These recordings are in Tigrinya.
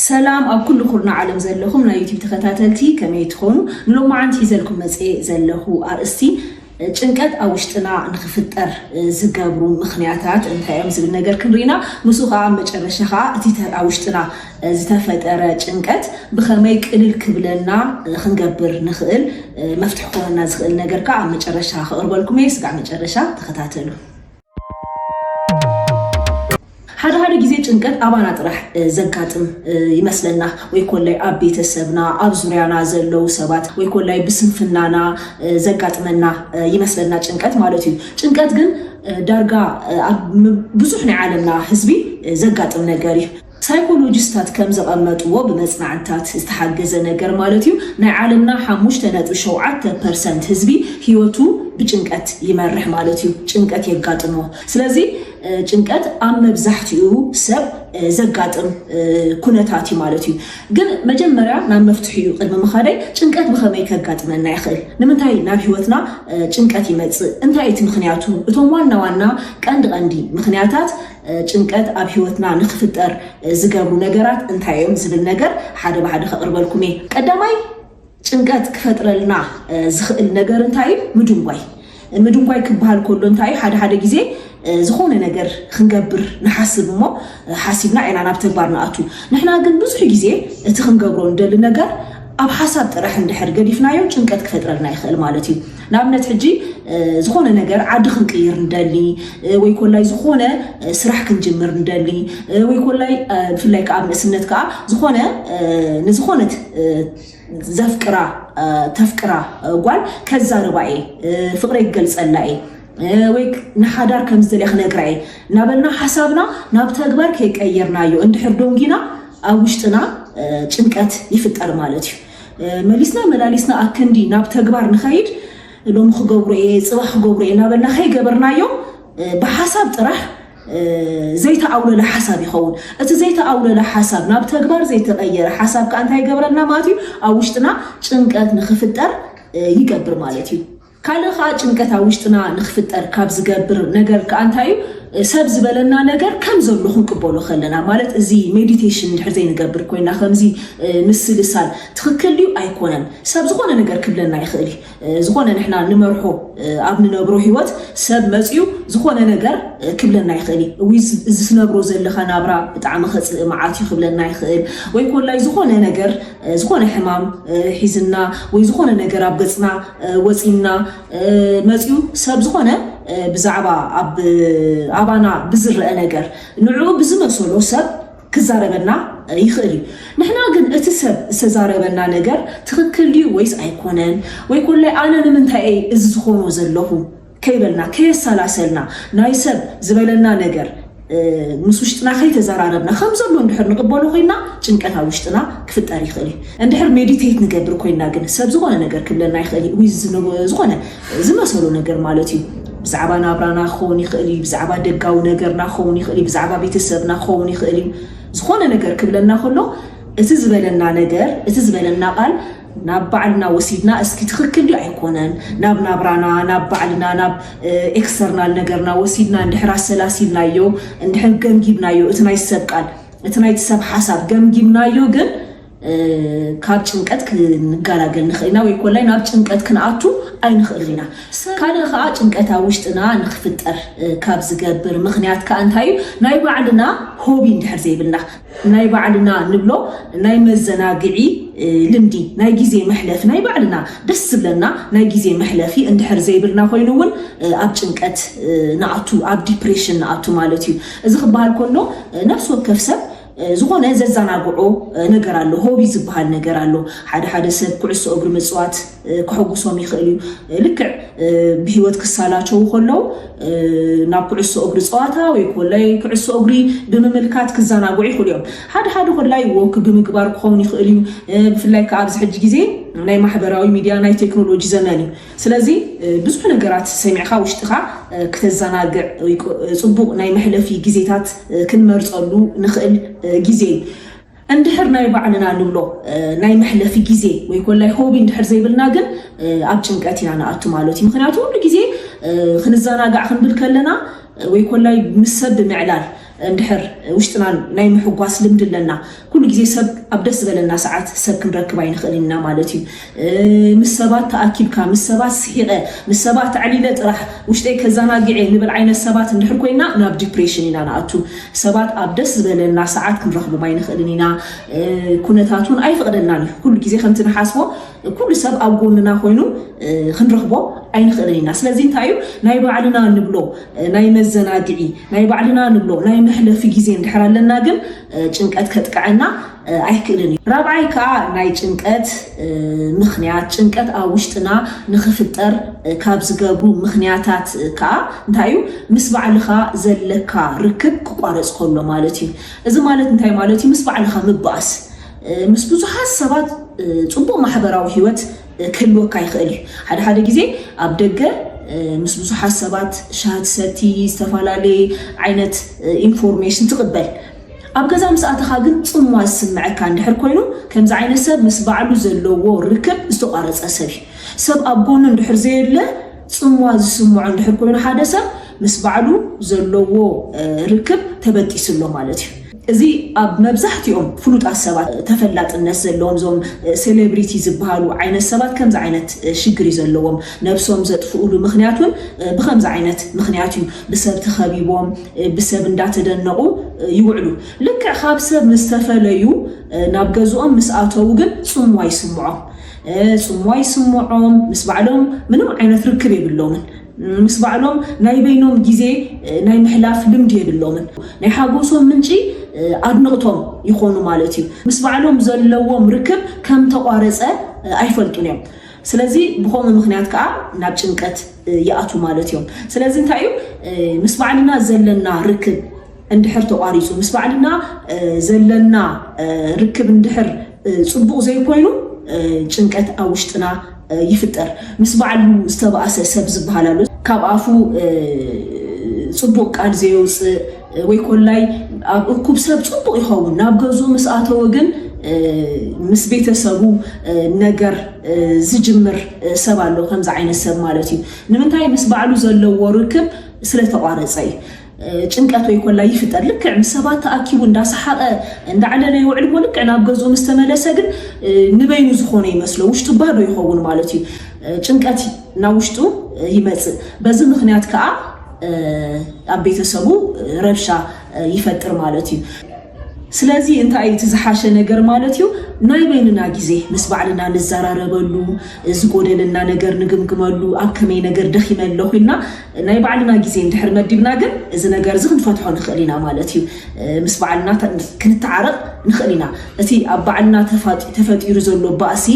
ሰላም ኣብ ኩሉ ኩርና ዓለም ዘለኹም ናይ ዩቲብ ተኸታተልቲ ከመይ ትኾኑ ሎማዓንቲ ሒዘልኩም መፅኤ ዘለኹ ኣርእስቲ ጭንቀት ኣብ ውሽጥና ንክፍጠር ዝገብሩ ምክንያታት እንታይ እዮም ዝብል ነገር ክንርኢና ንሱ ከዓ መጨረሻ ከዓ እቲ ኣብ ውሽጥና ዝተፈጠረ ጭንቀት ብከመይ ቅልል ክብለና ክንገብር ንክእል መፍትሒ ክኾነና ዝክእል ነገር ከዓ ኣብ መጨረሻ ክቅርበልኩም እየ ስጋዕ መጨረሻ ተከታተሉ ሓደ ሓደ ግዜ ጭንቀት ኣባና ጥራሕ ዘጋጥም ይመስለና ወይ ኮላይ ኣብ ቤተሰብና ኣብ ዙርያና ዘለው ሰባት ወይ ኮላይ ብስንፍናና ዘጋጥመና ይመስለና ጭንቀት ማለት እዩ ጭንቀት ግን ዳርጋ ኣብ ብዙሕ ናይ ዓለምና ህዝቢ ዘጋጥም ነገር እዩ። ሳይኮሎጂስታት ከም ዘቐመጥዎ ብመጽናዕትታት ዝተሓገዘ ነገር ማለት እዩ ናይ ዓለምና ሓሙሽተ ነጥቢ ሸውዓተ ፐርሰንት ህዝቢ ህይወቱ ብጭንቀት ይመርሕ ማለት እዩ። ጭንቀት የጋጥሞ። ስለዚ ጭንቀት ኣብ መብዛሕትኡ ሰብ ዘጋጥም ኩነታት እዩ ማለት እዩ። ግን መጀመርያ ናብ መፍትሒኡ ቅድሚ ምኻደይ ጭንቀት ብኸመይ ከጋጥመና ይኽእል? ንምንታይ ናብ ህይወትና ጭንቀት ይመጽእ? እንታይ እቲ ምኽንያቱ? እቶም ዋና ዋና ቀንዲ ቀንዲ ምኽንያታት ጭንቀት ኣብ ሕይወትና ንክፍጠር ዝገብሩ ነገራት እንታይ እዮም ዝብል ነገር ሓደ ብሓደ ከቕርበልኩም እየ። ቀዳማይ ጭንቀት ክፈጥረልና ዝኽእል ነገር እንታይ እዩ? ምድንጓይ። ምድንጓይ ክበሃል ከሎ እንታይ እዩ? ሓደ ሓደ ግዜ ዝኾነ ነገር ክንገብር ንሓስብ እሞ ሓሲብና ኢና ናብ ተግባር ንኣቱ። ንሕና ግን ብዙሕ ግዜ እቲ ክንገብሮ ንደሊ ነገር ኣብ ሓሳብ ጥራሕ እንድሕር ገዲፍናዮ ጭንቀት ክፈጥረልና ይኽእል ማለት እዩ። ንኣብነት ሕጂ ዝኾነ ነገር ዓዲ ክንቅይር ንደሊ ወይ ኮላይ ዝኾነ ስራሕ ክንጅምር ንደሊ ወይ ኮላይ ብፍላይ ከዓ ኣብ ንእስነት ከዓ ዝኾነ ንዝኾነት ዘፍቅራ ተፍቅራ ጓል ከዛርባ እየ ፍቅረይ ክገልፀላ እየ ወይ ንሓዳር ከም ዝደልያ ክነግራ እየ እናበልና ሓሳብና ናብ ተግባር ከይቀየርናዮ እንድሕር ዶንጊና ኣብ ውሽጥና ጭንቀት ይፍጠር ማለት እዩ መሊስና መላሊስና ኣክንዲ ናብ ተግባር ንኸይድ ሎሚ ክገብሮ እየ ፅባ ክገብሮ እየ እናበልና ከይገበርናዮ ብሓሳብ ጥራሕ ዘይተኣውለለ ሓሳብ ይኸውን እቲ ዘይተኣውለለ ሓሳብ ናብ ተግባር ዘይተቐየረ ሓሳብ ከዓ እንታይ ይገብረልና ማለት እዩ ኣብ ውሽጥና ጭንቀት ንክፍጠር ይገብር ማለት እዩ ካልእ ከኣ ጭንቀት ኣብ ውሽጥና ንክፍጠር ካብ ዝገብር ነገር ከኣ እንታይ እዩ ሰብ ዝበለና ነገር ከም ዘሎ ክንቅበሎ ከለና ማለት እዚ ሜዲቴሽን እንድሕር ዘይንገብር ኮይና ከምዚ ምስልሳል ትክክል ድዩ ኣይኮነን ሰብ ዝኮነ ነገር ክብለና ይክእል እዩ ዝኮነ ንሕና ንመርሖ ኣብ ንነብሮ ሂወት ሰብ መጽዩ ዝኮነ ነገር ክብለና ይክእል እዩ ወይ እዚ ትነብሮ ዘለካ ናብራ ብጣዕሚ ከጽልእ መዓት እዩ ክብለና ይክእል ወይ ኮላይ ዝኮነ ነገር ዝኾነ ሕማም ሒዝና ወይ ዝኾነ ነገር ኣብ ገጽና ወጺና መጺኡ ሰብ ዝኾነ ብዛዕባ ኣብ ኣባና ብዝረአ ነገር ንዕኡ ብዝመሰሎ ሰብ ክዛረበና ይኽእል እዩ ንሕና ግን እቲ ሰብ ዝተዛረበና ነገር ትኽክል ድዩ ወይስ ኣይኮነን ወይ ኮላይ ኣነ ንምንታይ እየ እዚ ዝኾኖ ዘለኹ ከይበልና ከየሰላሰልና ናይ ሰብ ዝበለና ነገር ምስ ውሽጥና ከይተዘራረብና ከም ዘሎ እንድሕር ንቕበሎ ኮይና ጭንቀት ኣብ ውሽጥና ክፍጠር ይኽእል እዩ። እንድሕር ሜዲቴት ንገብር ኮይና ግን ሰብ ዝኾነ ነገር ክብለና ይኽእል እዩ ወይ ዝኾነ ዝመሰሎ ነገር ማለት እዩ ብዛዕባ ናብራና ክኸውን ይኽእል እዩ ብዛዕባ ደጋዊ ነገርና ክኸውን ይኽእል እዩ ብዛዕባ ቤተሰብና ክኸውን ይኽእል እዩ ዝኾነ ነገር ክብለና ከሎ እቲ ዝበለና ነገር እቲ ዝበለና ቃል ናብ ባዕልና ወሲድና እስኪ ትኽክል ድዩ ኣይኮነን ናብ ናብራና ናብ ባዕልና ናብ ኤክስተርናል ነገርና ወሲድና እንድሕር ኣሰላሲልናዮ እንድሕር ገምጊምናዮ እቲ ናይ ሰብ ቃል እቲ ናይቲ ሰብ ሓሳብ ገምጊምናዮ ግን ካብ ጭንቀት ክንጋላገል ንኽእል ኢና ወይ ኮላይ ናብ ጭንቀት ክንኣቱ ኣይንኽእል ኢና ካልእ ከዓ ጭንቀት ኣብ ውሽጥና ንክፍጠር ካብ ዝገብር ምክንያት ከዓ እንታይ እዩ ናይ ባዕልና ሆቢ እንድሕር ዘይብልና ናይ ባዕልና ንብሎ ናይ መዘናግዒ ልምዲ ናይ ግዜ መሕለፊ ናይ ባዕልና ደስ ዝብለና ናይ ግዜ መሕለፊ እንድሕር ዘይብልና ኮይኑ እውን ኣብ ጭንቀት ንኣቱ ኣብ ዲፕሬሽን ንኣቱ ማለት እዩ እዚ ክበሃል ከሎ ነፍሲ ወከፍ ሰብ ዝኾነ ዘዘናግዖ ነገር ኣሎ ሆቢ ዝበሃል ነገር ኣሎ ሓደ ሓደ ሰብ ኩዕሶ እግሪ ምፅዋት ከሐጉሶም ይኽእል እዩ። ልክዕ ብህይወት ክሳላቸው ከለው ናብ ኩዕሶ እግሪ ፀዋታ ወይ ኮላይ ኩዕሶ እግሪ ብምምልካት ክዘናግዑ ይኽእሉ እዮም። ሓደ ሓደ ኮላይ ወክ ብምግባር ክኸውን ይኽእል እዩ። ብፍላይ ከዓ ኣብዚ ሕጂ ግዜ ናይ ማሕበራዊ ሚድያ ናይ ቴክኖሎጂ ዘመን እዩ። ስለዚ ብዙሕ ነገራት ሰሚዕካ ውሽጥኻ ክተዘናግዕ ፅቡቅ ናይ መሕለፊ ግዜታት ክንመርፀሉ ንኽእል ግዜ እዩ። እንድሕር ናይ ባዕልና ንብሎ ናይ መሕለፊ ግዜ ወይ ኮላይ ሆቢ እንድሕር ዘይብልና ግን ኣብ ጭንቀት ኢና ንኣቱ ማለት እዩ። ምክንያቱ ኩሉ ግዜ ክንዘናጋዕ ክንብል ከለና ወይ ኮላይ ምስ ሰብ ብምዕላል እንድሕር ውሽጥና ናይ ምሕጓስ ልምዲ ኣለና ኩሉ ግዜ ሰብ ኣብ ደስ ዝበለና ሰዓት ሰብ ክንረክብ ኣይንክእልን ኢና ማለት እዩ። ምስ ሰባት ተኣኪብካ፣ ምስ ሰባት ስሒቐ፣ ምስ ሰባት ኣዕሊለ ጥራሕ ውሽጠይ ከዘናግዕ'የ ንብል ዓይነት ሰባት እንድሕር ኮይና ናብ ዲፕሬሽን ኢና ንኣቱ። ሰባት ኣብ ደስ ዝበለና ሰዓት ክንረኽቦም ኣይንኽእልን ኢና። ኩነታት እውን ኣይፈቕደልናን እዩ። ኩሉ ግዜ ከምቲ ንሓስቦ ኩሉ ሰብ ኣብ ጎንና ኮይኑ ክንረኽቦ ኣይንኽእልን ኢና። ስለዚ እንታይ እዩ ናይ ባዕልና ንብሎ ናይ መዘናግዒ፣ ናይ ባዕልና ንብሎ ናይ መሕለፊ ግዜ እንድሕር ኣለና ግን ጭንቀት ከጥቅዐና ኣይክእልን እዩ። ራብዓይ ከኣ ናይ ጭንቀት ምኽንያት፣ ጭንቀት ኣብ ውሽጥና ንኽፍጠር ካብ ዝገብሩ ምኽንያታት ከኣ እንታይ እዩ ምስ ባዕልኻ ዘለካ ርክብ ክቋረጽ ከሎ ማለት እዩ። እዚ ማለት እንታይ ማለት እዩ ምስ ባዕልኻ ምባኣስ ምስ ብዙሓት ሰባት ጽቡቕ ማሕበራዊ ሂወት ክህልወካ ይኽእል እዩ ሓደ ሓደ ግዜ ኣብ ደገ ምስ ብዙሓት ሰባት ሻሂ ትሰቲ ዝተፈላለየ ዓይነት ኢንፎርሜሽን ትቕበል ኣብ ገዛ ምስ ኣተኻ ግን ጽምዋ ዝስምዐካ እንድሕር ኮይኑ ከምዚ ዓይነት ሰብ ምስ ባዕሉ ዘለዎ ርክብ ዝተቋረጸ ሰብ እዩ ሰብ ኣብ ጎኑ እንድሕር ዘየለ ጽምዋ ዝስምዖ እንድሕር ኮይኑ ሓደ ሰብ ምስ ባዕሉ ዘለዎ ርክብ ተበጢሱ ኣሎ ማለት እዩ እዚ ኣብ መብዛሕቲኦም ፍሉጣት ሰባት ተፈላጥነት ዘለዎም እዞም ሴሌብሪቲ ዝብሃሉ ዓይነት ሰባት ከምዚ ዓይነት ሽግር እዩ ዘለዎም። ነብሶም ዘጥፍኡሉ ምኽንያት ውን ብኸምዚ ዓይነት ምኽንያት እዩ። ብሰብ ተኸቢቦም ብሰብ እንዳተደነቑ ይውዕሉ። ልክዕ ካብ ሰብ ምስ ተፈለዩ ናብ ገዝኦም ምስ ኣተዉ ግን ጽምዋ ይስምዖም። ጽምዋ ይስምዖም ምስ ባዕሎም ምንም ዓይነት ርክብ የብሎምን። ምስ ባዕሎም ናይ በይኖም ግዜ ናይ ምሕላፍ ልምዲ የብሎምን። ናይ ሓጎሶም ምንጪ ኣድንቕቶም ይኾኑ ማለት እዩ። ምስ ባዕሎም ዘለዎም ርክብ ከም ተቋረጸ ኣይፈልጡን እዮም። ስለዚ ብኸምኡ ምኽንያት ከኣ ናብ ጭንቀት ይኣትዉ ማለት እዮም። ስለዚ እንታይ እዩ ምስ ባዕልና ዘለና ርክብ እንድሕር ተቋሪጹ ምስ ባዕልና ዘለና ርክብ እንድሕር ጽቡቕ ዘይኮይኑ ጭንቀት ኣብ ውሽጥና ይፍጠር። ምስ ባዕሉ ዝተባእሰ ሰብ ዝበሃል ኣሎ። ካብ ኣፉ ጽቡቕ ቃል ዘየውጽእ ወይ ኮላይ ኣብ እኩብ ሰብ ጽቡቕ ይኸውን፣ ናብ ገዝኡ ምስ ኣተወ ግን ምስ ቤተሰቡ ነገር ዝጅምር ሰብ ኣሎ። ከምዚ ዓይነት ሰብ ማለት እዩ። ንምንታይ? ምስ ባዕሉ ዘለዎ ርክብ ስለተቋረጸ እዩ። ጭንቀት ወይ ኮላ ይፍጠር። ልክዕ ምስ ሰባት ተኣኪቡ እንዳሰሓቐ እንዳዕለለ ይውዕል እሞ ልክዕ ናብ ገዝኡ ምስ ተመለሰ ግን ንበይኑ ዝኾነ ይመስሎ ውሽጡ ባዶ ይኸውን ማለት እዩ። ጭንቀት ናብ ውሽጡ ይመጽእ። በዚ ምክንያት ከዓ ኣብ ቤተሰቡ ረብሻ ይፈጥር ማለት እዩ። ስለዚ እንታይ እዩ እቲ ዝሓሸ ነገር ማለት እዩ ናይ በይንና ግዜ ምስ ባዕልና ንዘራረበሉ ዝጎደለና ነገር ንግምግመሉ ኣብ ከመይ ነገር ደኺመ ኣለኹ ኢልና ናይ ባዕልና ግዜ እንድሕር መዲብና ግን እዚ ነገር እዚ ክንፈትሖ ንኽእል ኢና ማለት እዩ ምስ ባዕልና ክንተዓረቕ ንኽእል ኢና እቲ ኣብ ባዕልና ተፈጢሩ ዘሎ ባእሲ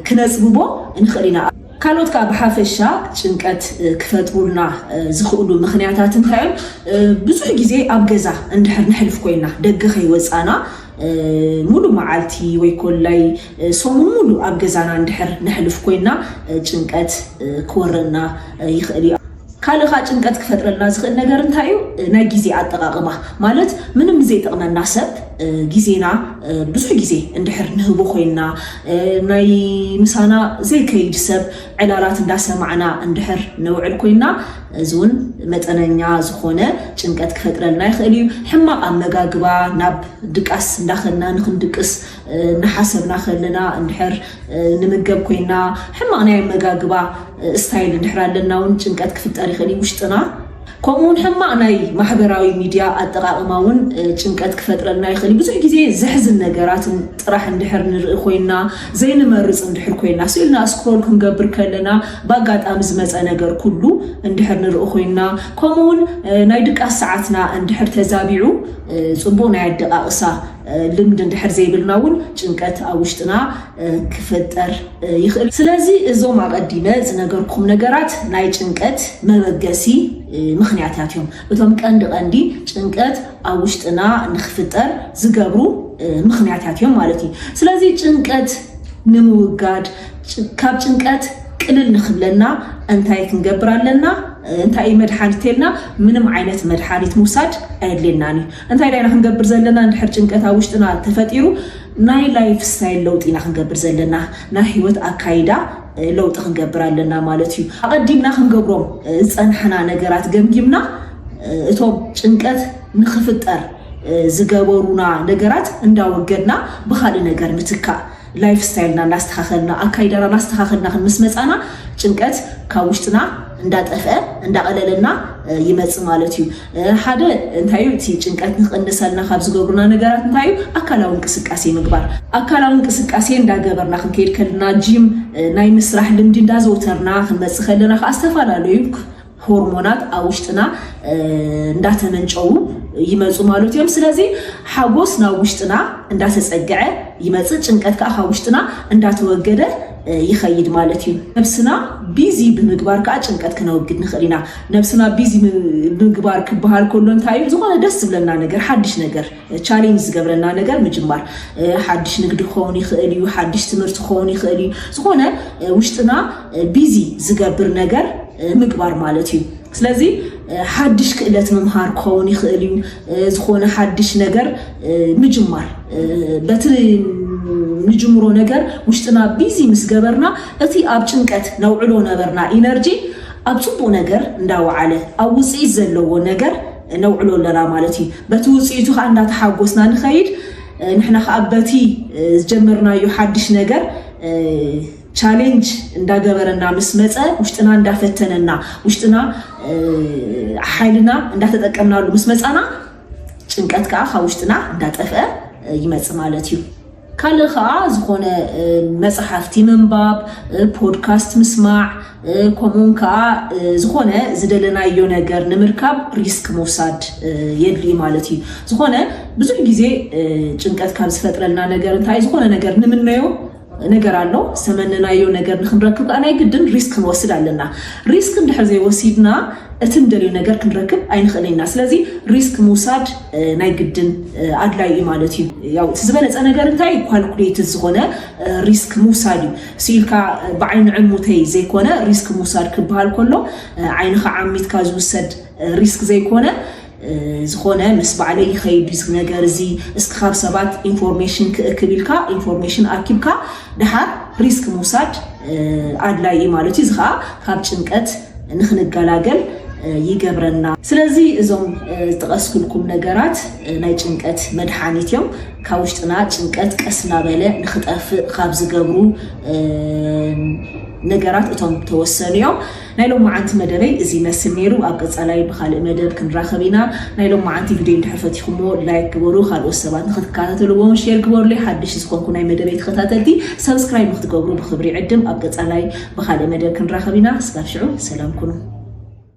ክነፅብቦ ንኽእል ኢና ካልኦት ከኣ ብሓፈሻ ጭንቀት ክፈጥሩልና ዝኽእሉ ምኽንያታት እንታይ እዮም? ብዙሕ ግዜ ኣብ ገዛ እንድሕር ነሕልፍ ኮይና፣ ደገ ከይወጻና ምሉእ መዓልቲ ወይ ኮላይ ሰሙን ምሉእ ኣብ ገዛና እንድሕር ነሕልፍ ኮይና ጭንቀት ክወረና ይኽእል እዩ። ካልእ ከኣ ጭንቀት ክፈጥረልና ዝኽእል ነገር እንታይ እዩ? ናይ ግዜ ኣጠቓቕማ፣ ማለት ምንም ንዘይጠቕመና ሰብ ግዜና ብዙሕ ግዜ እንድሕር ንህቦ ኮይንና፣ ናይ ምሳና ዘይከይድ ሰብ ዕላላት እንዳሰማዕና እንድሕር ነውዕል ኮይንና፣ እዚ እውን መጠነኛ ዝኾነ ጭንቀት ክፈጥረልና ይኽእል እዩ። ሕማቕ ኣመጋግባ፣ ናብ ድቃስ እንዳኸድና ንኽንድቅስ እናሓሰብና ከለና እንድሕር ንምገብ ኮይና ሕማቕ ናይ ኣመጋግባ ስታይል እንድሕር ኣለና እውን ጭንቀት ክፍጠር ይኽእል እዩ ውሽጥና ከምኡ እውን ሕማቕ ናይ ማሕበራዊ ሚድያ ኣጠቃቅማ እውን ጭንቀት ክፈጥረልና ይኽእል ብዙሕ ግዜ ዘሕዝን ነገራት ጥራሕ እንድሕር ንርኢ ኮይና ዘይንመርፅ እንድሕር ኮይና ስኢልና ስክሮል ክንገብር ከለና ብኣጋጣሚ ዝመፀ ነገር ኩሉ እንድሕር ንርኢ ኮይና ከምኡ እውን ናይ ድቃስ ሰዓትና እንድሕር ተዛቢዑ ፅቡቅ ናይ ኣደቃቅሳ ልምድ እንድሕር ዘይብልና እውን ጭንቀት ኣብ ውሽጥና ክፍጠር ይኽእል። ስለዚ እዞም ኣቐዲመ ዝነገርኩም ነገራት ናይ ጭንቀት መበገሲ ምኽንያታት እዮም። እቶም ቀንዲ ቀንዲ ጭንቀት ኣብ ውሽጥና ንክፍጠር ዝገብሩ ምኽንያታት እዮም ማለት እዩ። ስለዚ ጭንቀት ንምውጋድ ካብ ጭንቀት ቅልል ንክብለና እንታይ ክንገብር ኣለና? እንታይ እዩ መድሓኒት ተልና ምንም ዓይነት መድሓኒት ምውሳድ ኣየድልየናን እዩ። እንታይ ዳይና ክንገብር ዘለና እንድሕር ጭንቀት ኣብ ውሽጥና ተፈጢሩ ናይ ላይፍ ስታይል ለውጢ ኢና ክንገብር ዘለና ናይ ሂወት ኣካይዳ ለውጢ ክንገብር ኣለና ማለት እዩ ኣቀዲምና ክንገብሮም ዝጸናሕና ነገራት ገምጊምና እቶም ጭንቀት ንኽፍጠር ዝገበሩና ነገራት እንዳወገድና ብኻልእ ነገር ምትካእ ላይፍ ስታይልና እናስተኻኸልና ኣካይዳና እናስተኻኸልና ክንምስ መጻና ጭንቀት ካብ ውሽጥና እንዳጠፍአ እንዳቐለለና ይመጽእ ማለት እዩ ሓደ እንታይ እዩ እቲ ጭንቀት ንክቕንሰልና ካብ ዝገብሩና ነገራት እንታይ እዩ ኣካላዊ እንቅስቃሴ ምግባር ኣካላዊ እንቅስቃሴ እንዳገበርና ክንከይድ ከልና ጂም ናይ ምስራሕ ልምዲ እንዳዘውተርና ክንመፅእ ከለና ከዓ ዝተፈላለዩ ሆርሞናት ኣብ ውሽጥና እንዳተመንጨዉ ይመፁ ማለት እዮም ስለዚ ሓጎስ ናብ ውሽጥና እንዳተፀግዐ ይመፅእ ጭንቀት ከዓ ካብ ውሽጥና እንዳተወገደ ይኸይድ ማለት እዩ። ነብስና ቢዚ ብምግባር ከዓ ጭንቀት ክነወግድ ንኽእል ኢና። ነብስና ቢዚ ምግባር ክበሃል ከሎ እንታይ እዩ? ዝኾነ ደስ ዝብለና ነገር፣ ሓድሽ ነገር፣ ቻሌንጅ ዝገብረና ነገር ምጅማር። ሓድሽ ንግዲ ክኸውን ይኽእል እዩ፣ ሓድሽ ትምህርቲ ክኸውን ይኽእል እዩ። ዝኾነ ውሽጥና ቢዚ ዝገብር ነገር ምግባር ማለት እዩ። ስለዚ ሓድሽ ክእለት ምምሃር ክኸውን ይኽእል እዩ። ዝኾነ ሓድሽ ነገር ምጅማር በቲ ንጅምሮ ነገር ውሽጥና ቢዚ ምስ ገበርና እቲ ኣብ ጭንቀት ነውዕሎ ነበርና ኢነርጂ ኣብ ፅቡቅ ነገር እንዳወዓለ ኣብ ውፅኢት ዘለዎ ነገር ነውዕሎ ኣለና ማለት እዩ በቲ ውፅኢቱ ከዓ እንዳተሓጎስና ንኸይድ ንሕና ከዓ በቲ ዝጀመርናዮ ሓድሽ ነገር ቻሌንጅ እንዳገበረና ምስ መጸ ውሽጥና እንዳፈተነና ውሽጥና ሓይልና እንዳተጠቀምናሉ ምስ መጻና ጭንቀት ከዓ ካብ ውሽጥና እንዳጠፍአ ይመጽእ ማለት እዩ። ካልእ ከዓ ዝኾነ መፅሓፍቲ ምንባብ ፖድካስት ምስማዕ ከምኡውን ከዓ ዝኾነ ዝደለናዮ ነገር ንምርካብ ሪስክ ምውሳድ የድልዩ ማለት እዩ ዝኾነ ብዙሕ ግዜ ጭንቀት ካብ ዝፈጥረልና ነገር እንታይ ዝኾነ ነገር ንምነዮ ነገር ኣሎ ዝተመነናዮ ነገር ንክንረክብ ከዓ ናይ ግድን ሪስክ ክንወስድ ኣለና ሪስክ እንድሕር ዘይወሲድና እቲ ንደልዮ ነገር ክንረክብ ኣይንኽእልን ኢና ስለዚ ሪስክ ምውሳድ ናይ ግድን ኣድላይ እዩ ማለት እዩ ያው እቲ ዝበለፀ ነገር እንታይ እዩ ኳልኩሌትድ ዝኾነ ሪስክ ምውሳድ እዩ ስኢልካ ብዓይኒ ዕሙተይ ዘይኮነ ሪስክ ምውሳድ ክበሃል ከሎ ዓይንኻ ዓሚትካ ዝውሰድ ሪስክ ዘይኮነ ዝኾነ ምስ ባዕለይ ይኸይድ ድዩ እዚ ነገር እዚ እስኪ ካብ ሰባት ኢንፎርሜሽን ክእክብ ኢልካ ኢንፎርሜሽን ኣኪብካ ድሓር ሪስክ ምውሳድ ኣድላይ እዩ ማለት እዩ። እዚ ከዓ ካብ ጭንቀት ንክንገላገል ይገብረና። ስለዚ እዞም ዝጠቐስኩልኩም ነገራት ናይ ጭንቀት መድሓኒት እዮም። ካብ ውሽጥና ጭንቀት ቀስ እናበለ ንክጠፍእ ካብ ዝገብሩ ነገራት እቶም ተወሰኑ እዮም። ናይ ሎማዓንቲ መደበይ እዚ ይመስል ነይሩ ኣብ ቀፃላይ ብካልእ መደብ ክንራከብ ኢና ናይ ሎማዓንቲ ቪድዮ እንድሕር ፈቲኩምዎ ላይክ ግበሩ ካልኦት ሰባት ንክትከታተልዎ እውን ሼር ግበሩለይ ሓደሽቲ ዝኮንኩ ናይ መደበይ ተከታተልቲ ሰብስክራይብ ንክትገብሩ ብክብሪ ይዕድም ኣብ ቀፃላይ ብካልእ መደብ ክንራከብ ኢና እስካብ ሽዑ ሰላም ኩኑ።